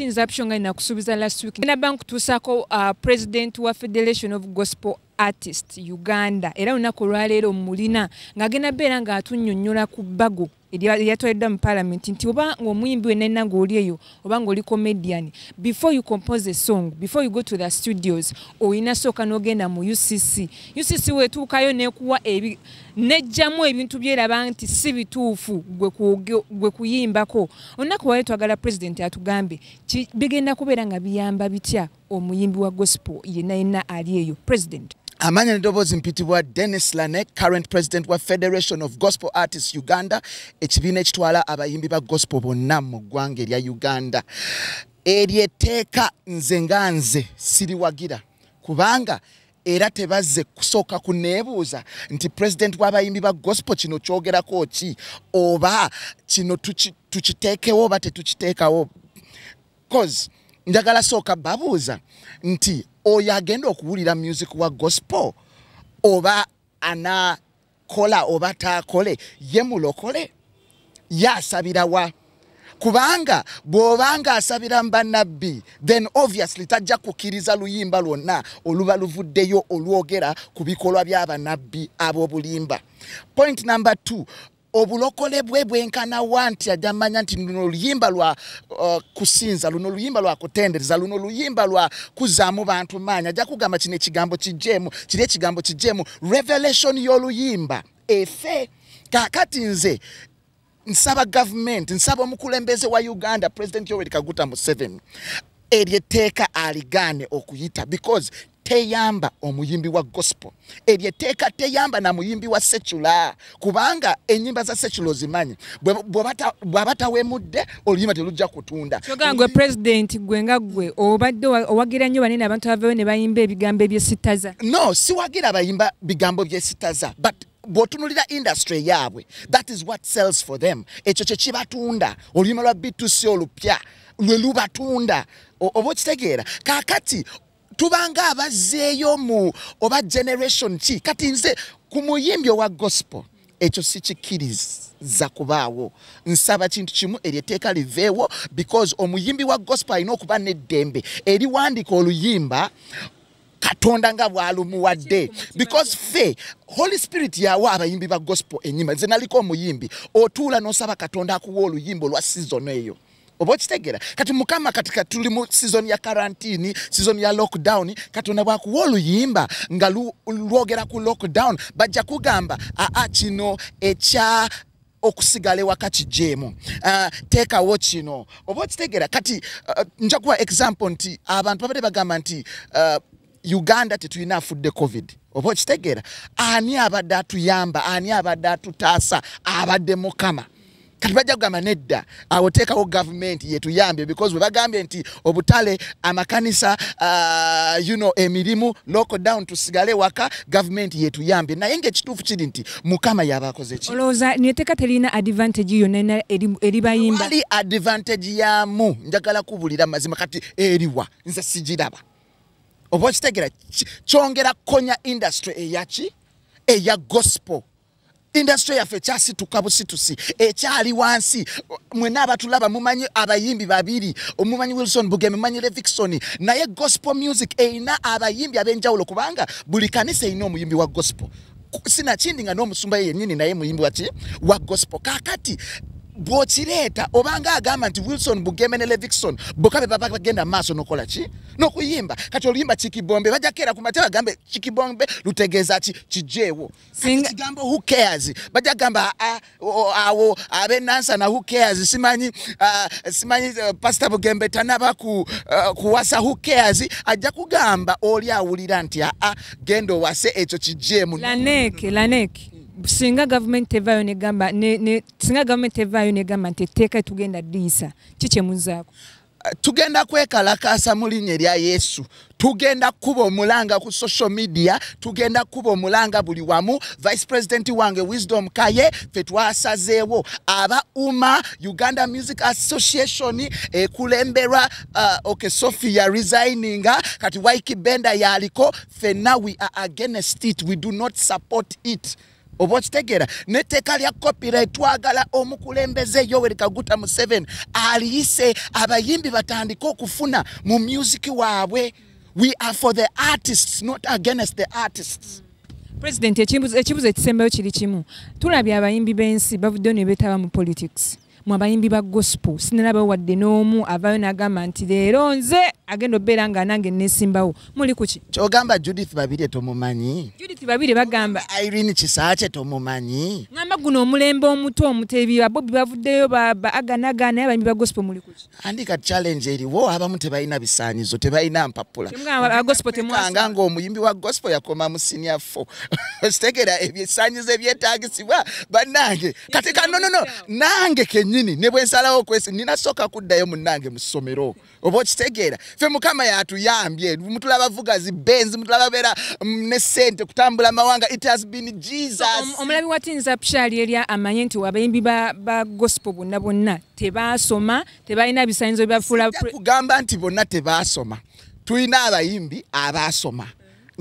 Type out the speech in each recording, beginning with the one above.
nze apsho nga nakusuubiza last week naba nkutuusaako uh, president wa federation of gospel artist uganda era olunaku olwaleero mulina ng'agenda beera ng'atunyonyola ku bbago eyatwaliddwa mu palamenti nti oba ngaomuyimbi wenalina ngaoli eyo oba ngaoli comedian before you compose a song before you go to the studios olina sooka n'ogenda mu ucc ucc wetuukayo nekuwa nejjamu ebintu byeraba nti si bituufu gwe kuyimbako olunaku wali twagala pulezidenti atugambe bigenda kubeera nga biyamba bitya omuyimbi wa gospel yena yena ali eyo pulezidenti amanya nedoboozi mpitibwa denis lane current president wa federation of gospel artists uganda ekibiina ekitwala abayimbi ba gospel bonna mu ggwanga erya uganda eryo etteeka nze nga nze siriwagira kubanga era tebazze kusooka kuneebuuza nti pulezidenti w'abayimbi ba gospel kino kyogerako ki oba kino tukiteekewo oba tetukiteekawo cause njagala sooka babuuza nti oyo agenda okuwulira music wa gospel oba ana kola oba taakole ye mulokole ye asabirawa kubanga bw'obanga asabira mu bannabbi then obviously tajja kukkiriza luyimba lwonna oluba luvuddeyo olwogera ku bikolwa by'abannabbi ab'obulimba point number two obulokole bwe bwenkanawa nti ajja manya nti luno oluyimba lwa uh, kusinza luno luyimba lwa kutendereza luno luyimba lwa kuzaamu bantu maanyi ajja kugamba kino ekigambo kijjeemu kiri ekigambo kijjeemu revelation y'oluyimba efe kakati nze nsaba gavumenti nsaba omukulembeze wa uganda president yoweri kaguta museveni eryo etteeka aligaane okuyita because teyamba omuyimbi wa gospel eryo etteeka teyamba na muyimbi wa secula kubanga enyimba za secula ozimanyi bwaba tawemudde oluyimba telujja kutunda kyoga gwe president gwe nga gwe obadde owagira nnyo banene abantu abavewo ne bayimba ebigambo ebyesitaza no siwagira bayimba bigambo byesitaza but bwotunulira industry yaabwe that is what sells for them ekyo kyekibatunda oluyima lwa btc olupya lwe lubatunda oba okitegeera kakati tubanga abazzeeyo mu oba generation ki kati nze ku muyimbi owa gospel ekyo sikikkiriza kubaawo nsaba kintu kimu eryo etteeka liveewo because omuyimbi wa gospel alina okuba n'eddembe eriwandika oluyimba katonda nga bwalumuwadde because fe holy spirit yawa abayimbi ba gospel enyima nze naliko omuyimbi otuula nosaba katonda akuwa oluyimba olwa sizon eyo oba okitegera kati mukama kati katuli mu sizon ya karantini sizon ya lockdown katonda bwakuwa oluyimba nga lwogera ku lockdown bajja kugamba aa kino ekya okusigala ewaka kijeemu uh, ah, teekawo kino oba okitegeera kati uh, ah, njakuwa example nti abantu babadde bagamba nti uh, uganda tetulina afudde covid oba okitegeera ani abadde atuyamba ani abadde atutaasa abadde mukama kati bajja kugamba nedda awo teekawo gavumenti yetuyambye because webagambye nti obutale amakanisa uh, you know, emirimu lockdown tusigale waka gavumenti yetuyambye naye ngaekituufu kiri nti mukama yabakoze ki olowooza neteka terina advantage yonna eribayimba ali advantage yamu njagala kubulira mazima kati eriwa nze sigiraba oba okitegera kyongera konya industry eyaki eya gospel industry yaffe ekyasituka busitusi ekyali wansi mwena abatulaba mumanyi abayimbi babiri omumanyi wilson buge mumanyi levikson naye gospel music erina abayimbi ab'enjawulo kubanga buli kanisa erina omuyimbi wa gospel sinakindi nga n'omusumba yenyini naye muyimbi waki wa gospel kakati bwokireeta obanga agamba nti wilson bugeme ne levikson boka be baba bagenda maaso nokola ki nokuyimba kati oluyimba kikibombe bajakeera ku matya bagambe kikibombe lutegeeza ki kijeewo singa kigambo who cares bajja gamba ah, ah, awo abe nansa na who cares simanyi ah, simanyi eh, pastor bugembe tanaba ku eh, kuwasa who cares ajja kugamba oli awulira nti a gendo wase ekyo kijje mu lanek lanek singa government evayo ne gamba ne singa government evayo ne gamba nti teka tugenda disa kiche munzako tugenda kwekalakaasa mu linnya erya yesu tugenda kukuba omulanga ku social media tugenda kukuba omulanga buli wamu vice president wange wisdom kaye fe twasazeewo aba uma uganda music association ekulemberwa uh, ok sophia resigninga kati wiki benda yaliko fenna we are against it we do not support it oba okitegeera n'etteeka lya kopira etwagala omukulembeze yoweri kaguta museven aliyise abayimbi batandike okufuna mu musiki waabwe we are for the artists not against the artists president ekibuzo ekisembayo kiri kimu tulabye abayimbi b'ensi bavuddeyo ne betaba mu politics mu abayimbi ba gospel sinalabawo wadde n'omu avaayo n'agamba nti leero nze agenda obeera nga nange nesimbawo muli kuki kyogamba judith babire tomumanyi judith babire bagamba irene kisaakye tomumanyi ngamba guno omulembe omuto omutebi abobi bavuddeyo baaganagana naye abayimbi ba gospel muli kuki andi ka challenge eriwo abamu tebalina bisaanyizo tebalina mpapula nga omuyimbi wa gospel yakoma mu senior fo okitegera ebisaanyizo ebyetagisibwa bannange kati ka nonono nange kenyini ne bwe nsalawo okwesi nina soka kuddayo munange mu ssomero oba okitegeera ffe mukama yatuyambye mutula bavuga zi benzi mutula babeera mm, ne ssente kutambula amawanga it has been jesus omulabi wa tinza pshali erya amanye nti abayimbi ba gospel bonna bonna tebaasoma tebalina bisanyizo bibafuula kugamba nti bonna tebaasoma tulina abayimbi abaasoma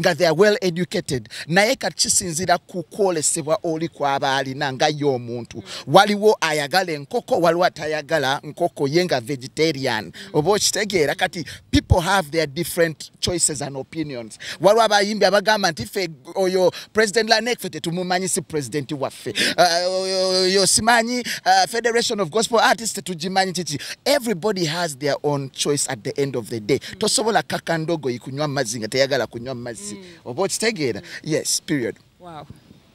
nga they are well educated naye kati kisinzira ku kwolesebwa oli kwaba alina nga ye omuntu waliwo ayagala enkoko waliwo atayagala nkoko ye nga vegetarian oba okitegeera kati people have their different choices and opinions waliwo abayimbi abagamba nti fe oyo president lanek fe tetumumanyi si president waffe uh, yo simanyi uh, federation of gospel artist tetugimanyi kiki everybody has their own choice at the end of the day tosobola kaka ndogoyi kunywa mazzi nga teyagala kunywa mazzi mm. oba okitegeera yes period wow.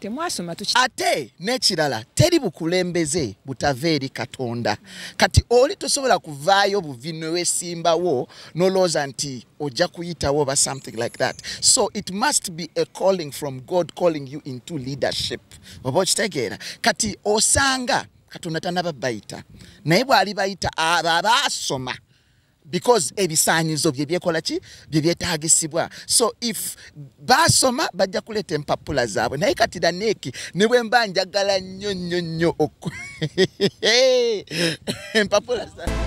temwasoma tuki ate n'ekirala teri bukulembeze butava eri katonda kati oli tosobola kuvaayo buvi newesimbawo nolowooza nti ojja kuyitawo oba something like that so it must be a calling from god calling you into leadership oba okitegeera kati osanga katonda tanaba bayita naye bw'ali bayita abo abaasoma because ebisaanyizo bye byekola ki bye byetaagisibwa so if baasoma bajja kuleeta empapula zaabwe naye kati daneeki ne bwe mba njagala nnyo nnyo nnyo empapula zaabwe